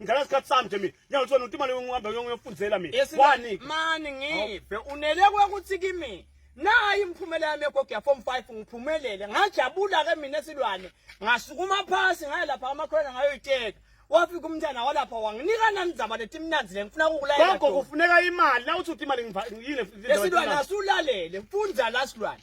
ngidlala isikhathi sami nje mina ngiyakuthi wena utimali ungihambe uyofundzela mina wani mani ngive unele kwakuthi kimi nayi imphumela yami yegogo ya form 5 ngiphumelele ngajabula ke mina esilwane ngasukuma phasi ngaya lapha amakhona ngayoyiteka wafika umntana walapha wanginika nanizaba lethi mnanzi le ngifuna kukulayela gogo kufuneka imali na uthi uthi imali ngiyile esilwane asulalele mfunza la silwane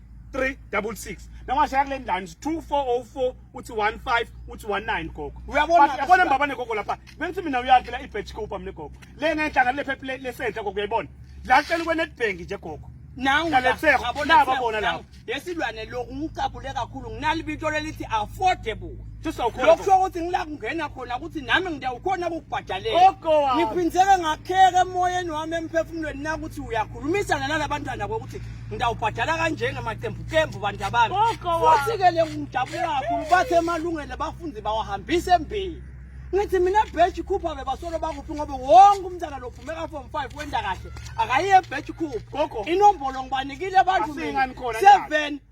366 nawashaya kule ndani 2404 uthi 15 uthi 19 gogo uyabona yabona baba negogo lapha bengithi mina uyakhe la ibetch coupe mina gogo le ngenhlanga le phephe le senhle gogo uyayibona la cela kwe netbank nje gogo nangu naletheko naba bona lapho yesilwane lokhu ngicabule kakhulu nginalibito lelithi affordable lokhu kusho ukuthi ngila kungena khona ukuthi nami ngiyawukhona ukubhadalela ngiphindeke ngakheke emoyeni wami emphefumulweni na ukuthi uyakhulumisana nalabantwana kokuthi ngiyawubhadala kanjengemaqembuqembu bantu abami futhi-ke le ngijabule kakhulu bathe emalungelo bafundi bawahambise embili ngithi mina bheji khupha bebasolo bakuphi ngoba wonke umntana lophume ka-form five wenda kahle akayiye ebheji khupha inombolo ngibanikile abantu seven